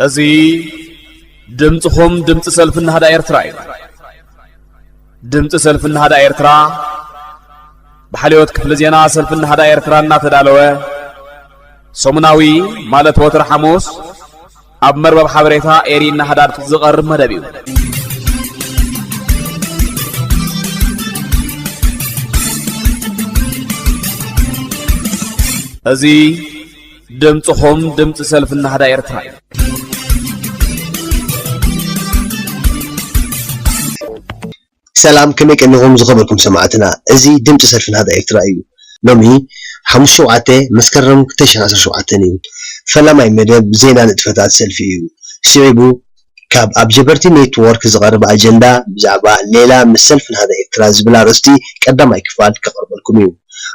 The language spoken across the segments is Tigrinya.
እዚ ድምፅኹም ድምፂ ሰልፊ ናህዳ ኤርትራ እዩ ድምፂ ሰልፊ ናህዳ ኤርትራ ብሓልዮት ክፍሊ ዜና ሰልፊ ናህዳ ኤርትራ እናተዳለወ ሰሙናዊ ማለት ወትሪ ሓሙስ ኣብ መርበብ ሓበሬታ ኤሪ ናህዳድ ዝቐርብ መደብ እዩ እዚ ድምፅኹም ድምፂ ሰልፊ ናህዳ ኤርትራ እዩ። ሰላም ከመይ ቀኒኹም ዝኸበርኩም ሰማዕትና እዚ ድምፂ ሰልፊ ናህዳ ኤርትራ እዩ ሎሚ ሓሙስ ሸውዓተ መስከረም ክልተ ሽሕን ዓሰርተ ሸውዓተን እዩ ፈላማይ መደብ ዜና ንጥፈታት ሰልፊ እዩ ስዒቡ ካብ ኣብ ጀበርቲ ኔት ዎርክ ዝቐረበ ኣጀንዳ ብዛዕባ ሌላ ምስ ሰልፊ ናህዳ ኤርትራ ዝብል ኣርእስቲ ቀዳማይ ክፋል ከቕርበልኩም እዩ።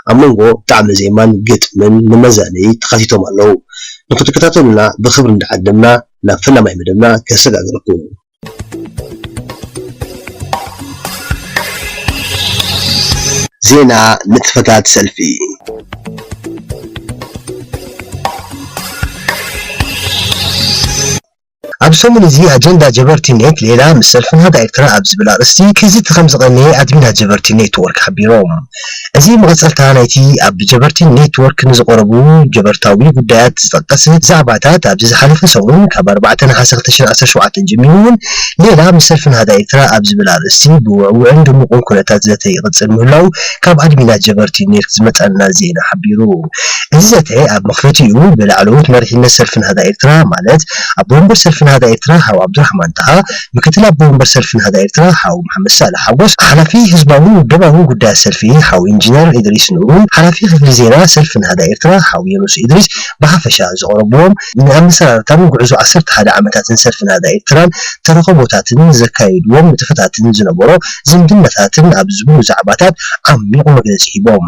ኣብ መንጎ ጣዕመ ዜማን ግጥምን ንመዛነዪ ተኻቲቶም ኣለዉ። ንኽትከታተሉና ብኽብሪ እንዳዓደምና ናብ ፈላማይ መደብና ከሰጋግረኩም። ዜና ንጥፈታት ሰልፊ። ኣብ ሰሙን እዚ ኣጀንዳ ጀበርቲ ኔት ሌላ ምስ ሰልፊ ናህዳ ኤርትራ ኣብ ዝብል ኣርእስቲ ክዝቲ ከም ዝቐነየ ኣድሚናት ጀበርቲ ኔት ወርክ ሓቢሮም። እዚ መቐጸልታ ናይቲ ኣብ ጀበርቲ ኔት ወርክ ንዝቐረቡ ጀበርታዊ ጉዳያት ዝጠቀስ ዛዕባታት ኣብዚ ዝሓለፈ ሰሙን ካብ ኣርባዕተ ነሓሰ ክልተ ሽሕን ዓሰርተ ሸውዓተን ጀሚሩ'ውን ሌላ ምስ ሰልፊ ናህዳ ኤርትራ ኣብ ዝብል ኣርእስቲ ብውዕውዕን ድሙቕን ኩነታት ዘተ ይቕጽል ምህላዉ ካብ ኣድሚናት ጀበርቲ ኔት ዝመጸና ዜና ሓቢሩ። እዚ ዘተ ኣብ መኽፈቲኡ ብላዕለዎት መሪሕነት ሰልፊ ናህዳ ኤርትራ ማለት ኣቦ ወንበር ሰልፊ ናህዳ ኤርትራ ሓው ዓብዱራሕማን ጣሃ፣ ምክትል ኣቦ ወንበር ሰልፊ ናህዳ ኤርትራ ሓው መሓመድ ሳልሕ ሓጎስ፣ ሓላፊ ህዝባውን ውደባውን ጉዳያት ሰልፊ ሓው ኢንጂነር ኢድሪስ ኑሩን ሓላፊ ክፍሊ ዜና ሰልፊ ናህዳ ኤርትራ ሓው የኑስ ኢድሪስ ብሓፈሻ ዘቕረቡዎም ንኣመሰራርታን ጉዕዞ ዓሰርተ ሓደ ዓመታትን ሰልፊ ናህዳ ኤርትራን ተረኽቦታትን ዘካየዱዎም ንጥፈታትን ዝነበሮ ዝምድናታትን ኣብ ዝብሉ ዛዕባታት ዓሚቝ መግለጺ ሂቦም።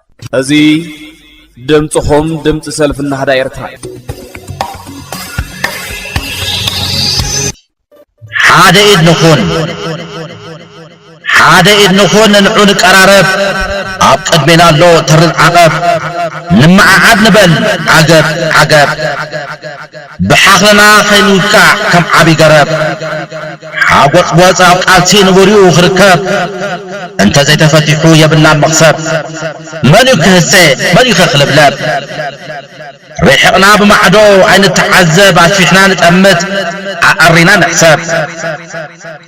እዚ ድምፅኹም ድምፂ ሰልፊ ናህዳ ኤርትራ እዩ። ሓደ ኢድ ንኹን ሓደ ኢድ ንኹን ንንዑ ንቀራረብ ኣብ ቅድሜና ኣሎ ተርር ዓቐብ ንመዓዓድ ንበል ዓገብ ዓገብ ብሓኽልና ከይንውቃዕ ከም ዓቢ ገረብ ሓጎጽጎጽ ኣብ ቃልሲ ንቡር'ዩ ክርከብ እንተ ዘይተፈቲሑ የብላን መኽሰብ መን'ዩ ክህሰ መን'ዩኸ ክልብለብ ርሒቕና ብማዕዶ ኣይንተዓዘብ ኣስፊሕና ንጠምት ኣዐሪና ንሕሰብ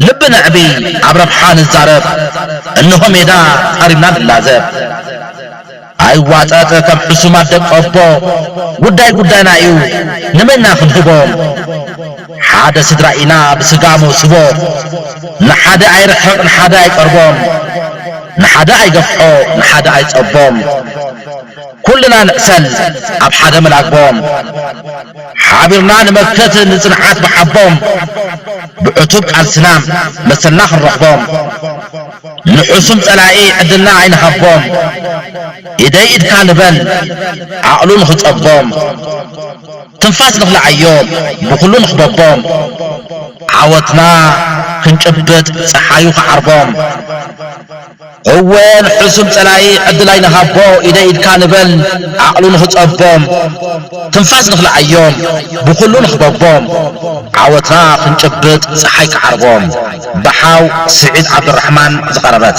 ልቢ ነዕቢ ኣብ ረብሓ ንዛረብ እንሆ ሜዳ ጸሪምና ንላዘብ። ኣይዋጠጥ ከም ሕሱማት ደቂ ኣቦ ጉዳይ ጉዳይና እዩ ንመን ኢና ክንህቦም ሓደ ስድራ ኢና ብስጋ መውስቦ ንሓደ ኣይርሕቕ ንሓደ ኣይቀርቦም ንሓደ ኣይገፍሖ ንሓደ ኣይጸቦም ኩልና ንዕሰል ኣብ ሓደ መላግቦም ሓቢርና ንመክት ንጽንዓት ብሓቦም ብዕቱብ ቃልስና መሰልና ክንረኽቦም ንሑሱም ጸላኢ ዕድልና ኣይንሃቦም ኢደይ ኢድካ ንበል ዓቕሉ ንኽጸቦም ትንፋስ ንኽልዓዮም ብኹሉ ንኽበቦም ዓወትና ክንጭብጥ ጸሓዩ ክዓርቦም እወ ንሑሱም ጸላኢ ዕድል ኣይንሃቦ ኢደይ ኢድካ ንበል ዓቕሉ ንኽጸቦም ትንፋስ ንኽልዓዮም ብኹሉ ንኽበቦም ዓወትና ክንጭብጥ ጸሓይ ክዓርቦም። ብሓው ስዒድ ዓብዱራሕማን ዝቐረበት።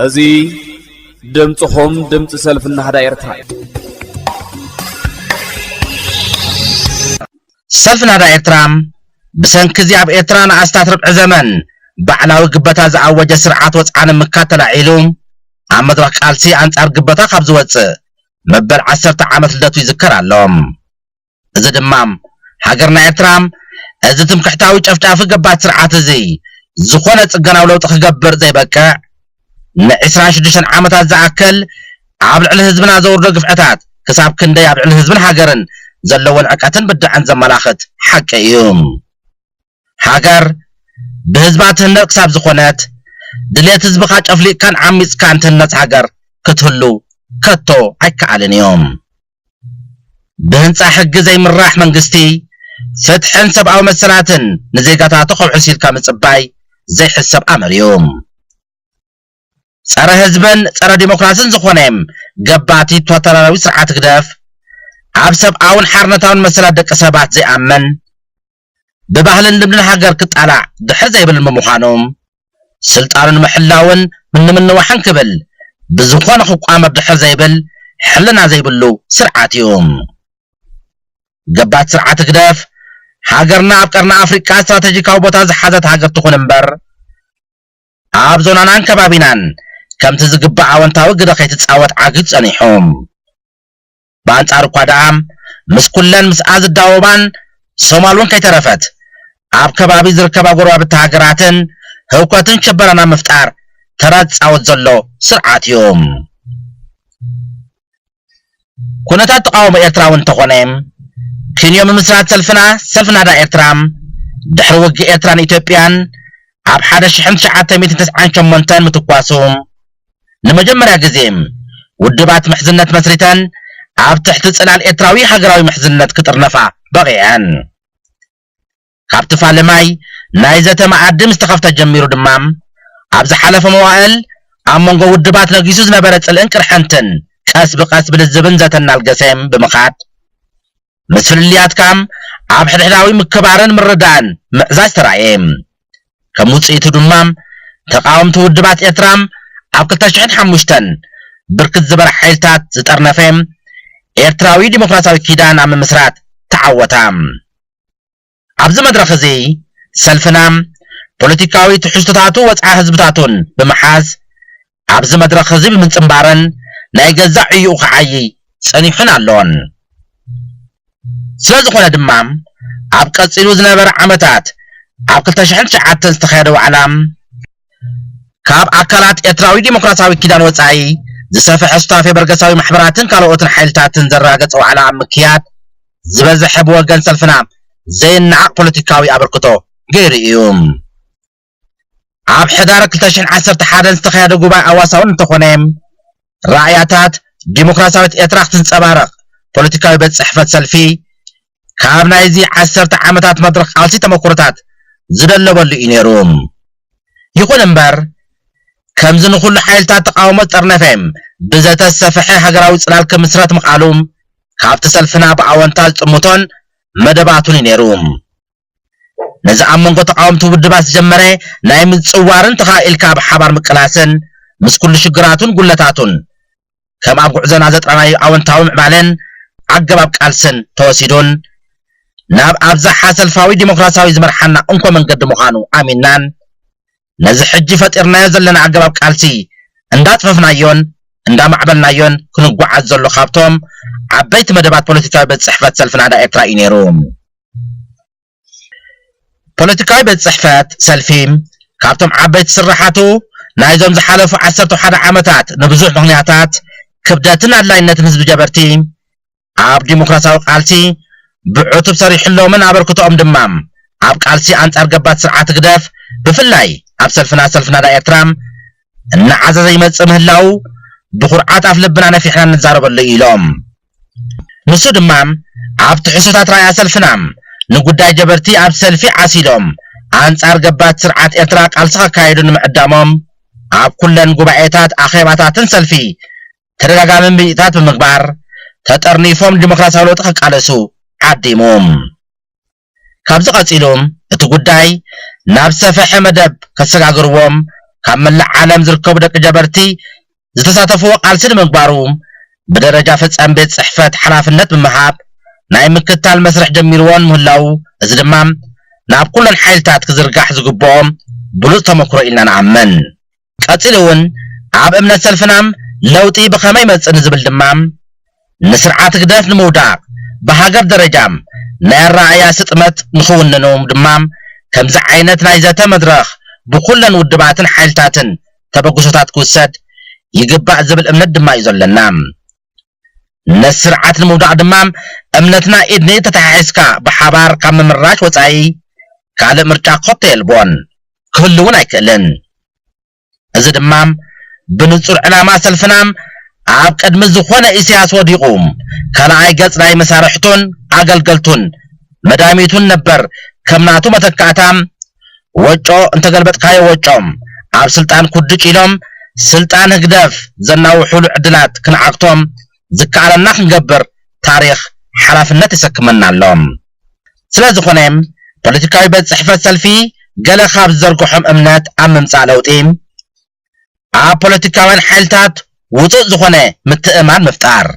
እዚ ድምጽኹም ድምጺ ሰልፊ ናህዳ ኤርትራ እዩ። ሰልፊ ናህዳ ኤርትራ ብሰንኪ እዚ ኣብ ኤርትራ ንኣስታት ርብዒ ዘመን ባዕላዊ ግበታ ዝኣወጀ ስርዓት ወጽዓ ንምካት ተላዒሉ ኣብ መድረኽ ቃልሲ ኣንጻር ግበታ ካብ ዝወጽእ መበል ዓሰርተ ዓመት ልደቱ ይዝከር ኣሎ። እዚ ድማ ሃገርና ኤርትራ እዚ ትምክሕታዊ ጨፍጫፊ ገባቲ ስርዓት እዚ ዝኾነ ጽገናዊ ለውጢ ክገብር ዘይበቅዕ ን ዕስራን ሽዱሽተን ዓመታት ዝኣክል ኣብ ልዕሊ ህዝብና ዘውርዶ ግፍዕታት ክሳብ ክንደይ ኣብ ልዕሊ ህዝብን ሃገርን ዘለዎ ንዕቀትን ብድዐን ዘመላኽት ሓቂ እዩ። ሃገር ብህዝባ ትህነጽ ክሳብ ዝኾነት፣ ድሌት ህዝብኻ ጨፍሊቕካን ዓሚጽካን ትህነጽ ሃገር ክትህሉ ከቶ ኣይከኣልን እዩ። ብህንጻ ሕጊ ዘይምራሕ መንግስቲ፣ ፍትሕን ሰብኣዊ መሰላትን ንዜጋታቱ ከውሕስ ኢልካ ምጽባይ ዘይሕሰብ ኣምር እዩ። ጸረ ህዝብን ጸረ ዲሞክራስን ዝኾነ ገባቲ ቶታላራዊ ስርዓት ህግደፍ፣ ኣብ ሰብኣውን ሓርነታውን መሰላት ደቂ ሰባት ዘይኣምን፣ ብባህልን ልምድን ሃገር ክጣላዕ ድሕር ዘይብል ብምዃኑ፣ ስልጣኑ ንምሕላውን ንምንዋሕን ክብል ብዝኾነ ክቋመር ድሕር ዘይብል ሕልና ዘይብሉ ስርዓት እዩ። ገባቲ ስርዓት ህግደፍ፣ ሃገርና ኣብ ቀርኒ ኣፍሪቃ ስትራተጂካዊ ቦታ ዝሓዘት ሃገር ትኹን እምበር፣ ኣብ ዞናናን ከባቢናን ከምቲ ዝግባእ ኣወንታዊ ግደ ከይትጻወት ዓጊቱ ጸኒሑ። ብኣንጻሩ እኳ ደኣ ምስ ኩለን ምስኣ ዝዳወባን፣ ሶማል እውን ከይተረፈት፣ ኣብ ከባቢ ዝርከባ ጎረባብቲ ሃገራትን ህውከትን ሽበራን ኣብ ምፍጣር ተራ ዝጻወት ዘሎ ስርዓት እዩ። ኩነታት ተቓውሞ ኤርትራ እውን እንተኾነ፣ ክንዮ ምምስራት ሰልፍና፣ ሰልፊ ናህዳ ኤርትራ፣ ድሕሪ ውግእ ኤርትራን ኢትዮጵያን ኣብ ሓደ ሽሕን ትሽዓተ ሚእትን ተስዓን ሸሞንተን ምትኳሱ፣ ንመጀመርያ ግዜ ውድባት ምሕዝነት መስሪተን ኣብ ትሕቲ ጽላል ኤርትራዊ ሃገራዊ ምሕዝነት ክጥርነፋ በቒዐን። ካብቲ ፋልማይ ናይ ዘተ መኣዲ ምስ ተኸፍተ ጀሚሩ ድማ ኣብ ዝሓለፈ መዋእል ኣብ መንጎ ውድባት ነጊሱ ዝነበረ ጽልእን ቅርሕንትን ቀስ ብቐስ ብልዝብን ዘተን እናልገሰ ብምኻድ፣ ምስ ፍልልያት ከኣ ኣብ ሕድሕዳዊ ምክብባርን ምርዳእን ምዕዛዝ ተራእየ። ከም ውጽኢቱ ድማ ተቓወምቲ ውድባት ኤርትራ ኣብ ክልተ ሽሕን ሓሙሽተን ብርክት ዝበለ ሓይልታት ዝጠርነፈ ኤርትራዊ ዲሞክራሲያዊ ኪዳን ኣብ ምምስራት ተዓወታ። ኣብዚ መድረኽ እዚ ሰልፍና ፖለቲካዊ ትሕዝቶታቱ ወጽዓ ህዝብታቱን ብምሓዝ ኣብዚ መድረኽ እዚ ብምጽንባረን ናይ ገዛእ ዕይኡ ክዓይይ ጸኒሑን ኣሎን። ስለዝኾነ ድማ ኣብ ቀጺሉ ዝነበረ ዓመታት ኣብ ክልተ ሽሕን ትሽዓተን ዝተኻየደ ዋዕላ፣ ካብ ኣካላት ኤርትራዊ ዲሞክራሲያዊ ኪዳን ወጻኢ ዝሰፈሐ ሱታፌ በርገሳዊ ማሕበራትን ካልኦትን ሓይልታትን ዘራገጸ ዋዕላ ኣብ ምክያድ ዝበዘሐ ብወገን ሰልፍና ዘይነዓቕ ፖለቲካዊ ኣበርክቶ ገይሩ ኢዩ። ኣብ ሕዳር ክልተ ሽሕን ዓሰርተ ሓደን ዝተኻየደ ጉባኤ ኣዋሳውን እንተኾነ፣ ራእያታት ዲሞክራሲያዊት ኤርትራ ክትንጸባረቕ፣ ፖለቲካዊ ቤት ጽሕፈት ሰልፊ፣ ካብ ናይዚ ዓሰርተ ዓመታት መድረኽ ቃልሲ ተመኩሮታት ዝደለበሉ እዩ ነይሩ። ይኹን እምበር፣ ከምዚ ንኹሉ ሓይልታት ተቓውሞ ዝጠርነፈ፣ ብዘተ ዝሰፈሐ ሃገራዊ ጽላል ክምስረት ምኽኣሉ፣ ካብቲ ሰልፍና ብኣወንታ ዝጥምቶን መደባቱን እዩ ነይሩ። ነዚ ኣብ መንጎ ተቓወምቲ ውድባት ዝጀመረ ናይ ምጽዋርን ተኻኢልካ ኣብ ሓባር ምቅላስን ምስ ኩሉ ሽግራቱን ጉድለታቱን ከም ኣብ ጉዕዞና ዘጥራናዩ ኣወንታዊ ምዕባለን ኣገባብ ቃልስን ተወሲዱን ናብ ኣብዝሓ ሰልፋዊ ዲሞክራሲያዊ ዝመርሓና እንኮ መንገዲ ምዃኑ ኣሚንናን ነዚ ሕጂ ፈጢርናዮ ዘለና ኣገባብ ቃልሲ እንዳጥፈፍናዮን እንዳማዕበልናዮን ክንጓዓዝ ዘሎ ካብቶም ዓበይቲ መደባት ፖለቲካዊ ቤት ጽሕፈት ሰልፊ ናህዳ ኤርትራ ኢዩ ነይሩ። ፖለቲካዊ ቤት ጽሕፈት ሰልፊ ካብቶም ዓበይቲ ስርሓቱ ናይዞም ዝሓለፉ ዓሰርተው ሓደ ዓመታት ንብዙሕ ምኽንያታት ክብደትን ኣድላይነትን ህዝቢ ጀበርቲ ኣብ ዲሞክራሲያዊ ቃልሲ ብዕቱብ ሰሪሕሎምን ኣበርክቶኦም ድማ ኣብ ቃልሲ ኣንጻር ገባቲ ስርዓት ህግደፍ ብፍላይ ኣብ ሰልፍና ሰልፊ ናዳ ኤርትራ እናዓዘዘ ይመጽእ ምህላዉ ብኹርዓት ኣፍ ልብና ነፊሕና ንዛረበሉ እዩ ኢሎም። ንሱ ድማ ኣብ ትሕዝቶታት ራእያ ሰልፍና ንጉዳይ ጀበርቲ ኣብ ሰልፊ ዓሲሎም ኣንጻር ገባቲ ስርዓት ኤርትራ ቃልሲ ከካይዱ ንምዕዳሞም ኣብ ኩለን ጉባኤታት ኣኼባታትን ሰልፊ ተደጋጋሚ ምይይጣት ብምግባር ተጠርኒፎም ንዲሞክራሲያዊ ለውጢ ክቃለሱ ዓዲሙ። ካብዚ ቀጺሉ እቲ ጉዳይ ናብ ዝሰፈሐ መደብ ከሰጋግርዎም ካብ መላእ ዓለም ዝርከቡ ደቂ ጀበርቲ ዝተሳተፍዎ ቃልሲ ንምግባሩ ብደረጃ ፈጻሚ ቤት ጽሕፈት ሓላፍነት ብምሃብ ናይ ምክታል መስርሕ ጀሚርዎን ምህላዉ እዚ ድማ ናብ ኩለን ሓይልታት ክዝርጋሕ ዝግብኦ ብሉጽ ተመክሮ ኢልና ንኣምን። ቀጺሉ እውን ኣብ እምነት ሰልፍና ለውጢ ብኸመይ ይመጽእ ንዝብል ድማ ንስርዓት ህግደፍ ንምውዳቕ ብሃገር ደረጃ ናይ ኣረኣእያ ስጥመት ንኽውንኑ ድማ ከምዚ ዓይነት ናይ ዘተ መድረኽ ብኩለን ውድባትን ሓይልታትን ተበግሶታት ክውሰድ ይግባእ ዝብል እምነት ድማ እዩ ዘለና። ነቲ ስርዓት ንምውዳቕ ድማ እምነትና ኢድ ንኢድ ተተሓሒዝካ ብሓባር ካብ ምምራሽ ወፃኢ ካልእ ምርጫ ኮቶ የልቦን፣ ክህሉ እውን ኣይክእልን። እዚ ድማ ብንፁር ዕላማ ሰልፍና ኣብ ቅድሚ ዝኾነ ኢሳያስ ወዲቑ ካልኣይ ገፅ ናይ መሳርሕቱን ኣገልገልቱን መዳሚቱን ነበር ከም ናቱ መተካእታ ወጮ እንተገልበጥካዮ ወጮ ኣብ ስልጣን ኩድጭ ኢሎም ስልጣን ህግደፍ ዘናውሑሉ ዕድላት ክንዓግቶ ዝከኣለና ክንገብር ታሪኽ ሓላፍነት የሰክመና ኣሎ። ስለዝኾነ ፖለቲካዊ ቤት ጽሕፈት ሰልፊ ገለ ካብ ዝዘርገሖም እምነት ኣብ ምምጻእ ለውጢ ኣብ ፖለቲካውያን ሓይልታት ውጹእ ዝኾነ ምትእምማን ምፍጣር፣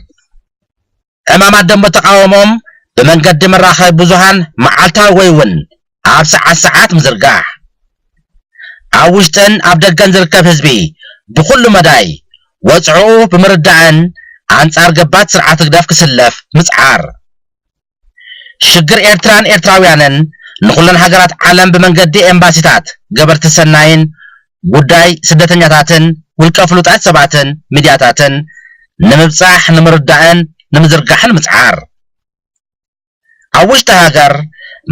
ዕማማት ደንበ ተቓውሞኦም ብመንገዲ መራኸቢ ብዙሃን መዓልታዊ ወይ እውን ኣብ ሰዓት ሰዓት ምዝርጋሕ። ኣብ ውሽጥን ኣብ ደገን ዝርከብ ህዝቢ ብኹሉ መዳይ ወጽዕኡ ብምርዳእን ኣንጻር ገባቲ ስርዓት ህግደፍ ክስለፍ ምጽዓር። ሽግር ኤርትራን ኤርትራውያንን ንኹለን ሃገራት ዓለም ብመንገዲ ኤምባሲታት፣ ገበርቲ ሰናይን ጉዳይ ስደተኛታትን ውልቀ ፍሉጣት ሰባትን ሚድያታትን ንምብፃሕ ንምርዳእን ንምዝርጋሕን ምፅዓር። ኣብ ውሽጢ ሃገር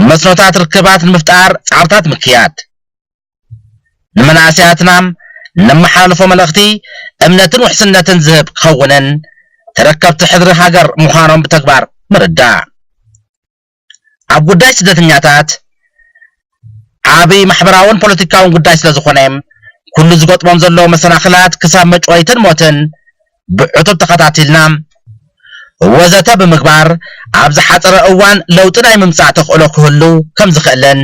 መስኖታት ርክባት ንምፍጣር ፃዕርታት ምክያድ። ንመናእሰያትናም ነመሓላልፎ መልእኽቲ እምነትን ውሕስነትን ዝህብ ክኸውንን ተረከብቲ ሕድሪ ሃገር ምዃኖም ብተግባር ምርዳእ። ኣብ ጉዳይ ስደተኛታት ዓቢ ማሕበራውን ፖለቲካውን ጉዳይ ስለ ዝኾነ፣ ኩሉ ዝገጥሞም ዘሎ መሰናኽላት ክሳብ መጭወይትን ሞትን ብዕቱብ ተኸታቲልና፣ ወዘተ ብምግባር ኣብ ዝሓጸረ እዋን ለውጢ ናይ ምምጻእ ተኽእሎ ክህሉ ከም ዝኽእልን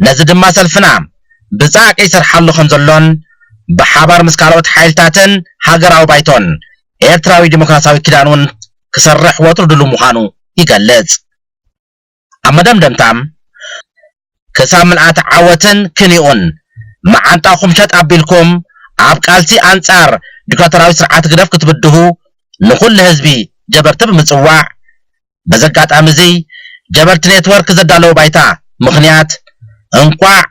ነዚ ድማ ሰልፍና ብጻዕቂ ይሰርሓሉ ከም ዘሎን ብሓባር ምስ ካልኦት ሓይልታትን ሃገራዊ ባይቶን ኤርትራዊ ዲሞክራሲያዊ ኪዳን ውን ክሰርሕ ወትሩ ድሉው ምዃኑ ይገልጽ። ኣብ መደምደምታ፣ ክሳብ ምልኣት ዓወትን ክንዮኡን፣ መዓንጣኹም ሸጥ ኣቢልኩም ኣብ ቃልሲ ኣንጻር ዲክታቶራዊ ስርዓት ህግደፍ ክትብድሁ ንኹሉ ህዝቢ ጀበርቲ ብምጽዋዕ፣ በዚ ኣጋጣሚ'ዚ ጀበርቲ ኔትወርክ ዘዳለዎ ባይታ ምኽንያት እንቋዕ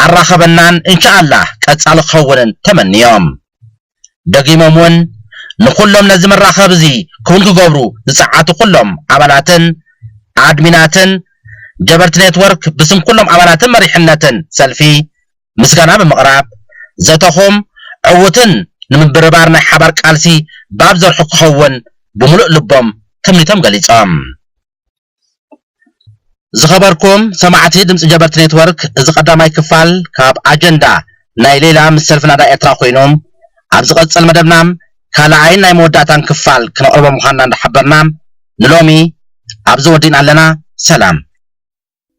ኣራኸበናን እንሻኣላህ ቀጻሊ ክኸውንን ተመንዮም። ደጊሞም ውን ንኹሎም ነዚ መራኸቢ እዚ ክውን ክገብሩ ዝጸዓቱ ኩሎም ኣባላትን ኣድሚናትን ጀበርቲ ኔትወርክ ብስም ኩሎም ኣባላትን መሪሕነትን ሰልፊ ምስጋና ብምቕራብ ዘተኹም ዕውትን ንምብርባር ናይ ሓባር ቃልሲ ባብ ዘርሑ ክኸውን ብምሉእ ልቦም ትምኒቶም ገሊጾም። ዝኸበርኩም ሰማዕቲ ድምጺ ጀበርቲ ኔትወርክ እዚ ቀዳማይ ክፋል ካብ ኣጀንዳ ናይ ሌላ ምስ ሰልፊ ናዳ ኤርትራ ኮይኑ ኣብ ዝቐጽል መደብና ካልኣይን ናይ መወዳእታን ክፋል ክነቕርቦ ምዃንና እንዳሓበርና ንሎሚ ኣብዚ ወዲእና ኣለና ሰላም።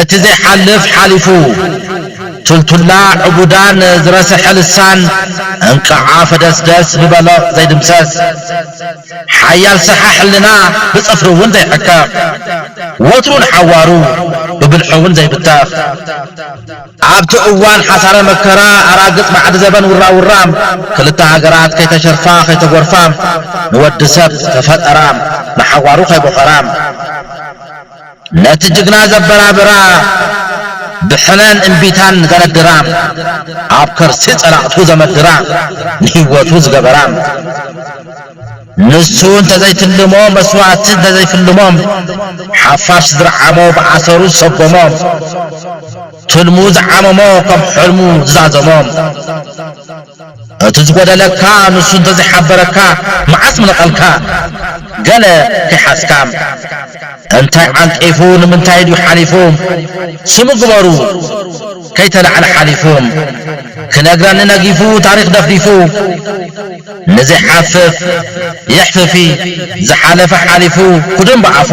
እቲ ዘይሓልፍ ሓሊፉ ቱልቱላ ዕቡዳን ዝረሰሐ ልሳን እንቃዓ ፈደስደስ ብበሎቕ ዘይድምሰስ ሓያል ሰሓ ሕልና ብጽፍሪ ውን ዘይሕከኽ ወትሩ ንሓዋሩ ብብልሒውን ዘይብተኽ። ኣብቲ እዋን ሓሳረ መከራ ኣራግጽ ባዕዲ ዘበን ውራውራ ክልተ ሃገራት ከይተሸርፋ ከይተጎርፋ ንወዲ ሰብ ዝተፈጠራ ንሓዋሩ ከይቦኸራ ነቲ ጅግና ዘበራብራ ብሕነን እምቢታን ዘነድራ ኣብ ከርሲ ጸላእቱ ዘመድራ ንህይወቱ ዝገበራ ንሱ እንተዘይትልሞ መስዋእቲ እንተዘይፍልሞ ሓፋሽ ዝረዓሞ ብኣሰሩ ዝሰጎሞ ትልሙ ዝዓመሞ ከም ሕልሙ ዝዛዘሞ እቲ ዝጎደለካ ንሱ እንተዘይሓበረካ መዓስ ምነቐልካ ገለ ከይሓዝካ እንታይ ዓንቂፉ ንምንታይ ድዩ ሓሊፉ ስሙ ግበሩ ከይተላዕለ ሓሊፉ ክነግረኒ ነጊፉ ታሪኽ ደፍዲፉ ንዘይሓፍፍ የሕፍፊ ዝሓለፈ ሓሊፉ ኩድም ብኣፉ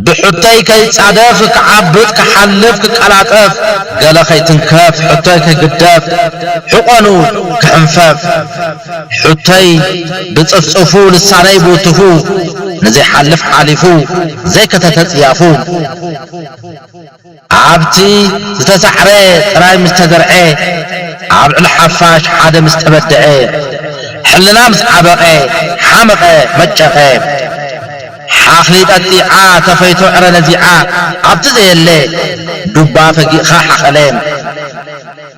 ብሕቶይ ከይጻደፍ ክዓብጥ ክሓልፍ ክቀላጠፍ ገለ ከይትንከፍ ሕቶይ ከይግደፍ ሕቆኑ ክሕንፈፍ ሕቶይ ብጽፍጽፉ ልሳነይ ብውትፉ ንዘይሓልፍ ሓሊፉ ዘይከተተ ጽያፉ ኣብቲ ዝተሳዕረ ጥራይ ምስ ተዘርዐ፣ ኣብ ልዕሊ ሓፋሽ ሓደ ምስ ተበደዐ፣ ሕልና ምስ ዓበቐ፣ ሓመቐ መጨቐ። ሓኽሊ ጠጢዓ ተፈይቶ ዕረ ነዚዓ፣ ኣብቲ ዘየለ ዱባ ፈጊእኻ ሓቐለ።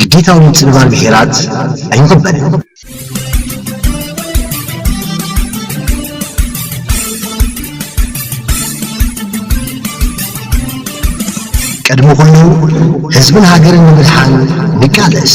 ግዴታዊ ምጽንባር ብሄራት ኣይቕበልን። ቅድሚ ኩሉ ህዝብን ሃገርን ንምድሓን ንቃለስ።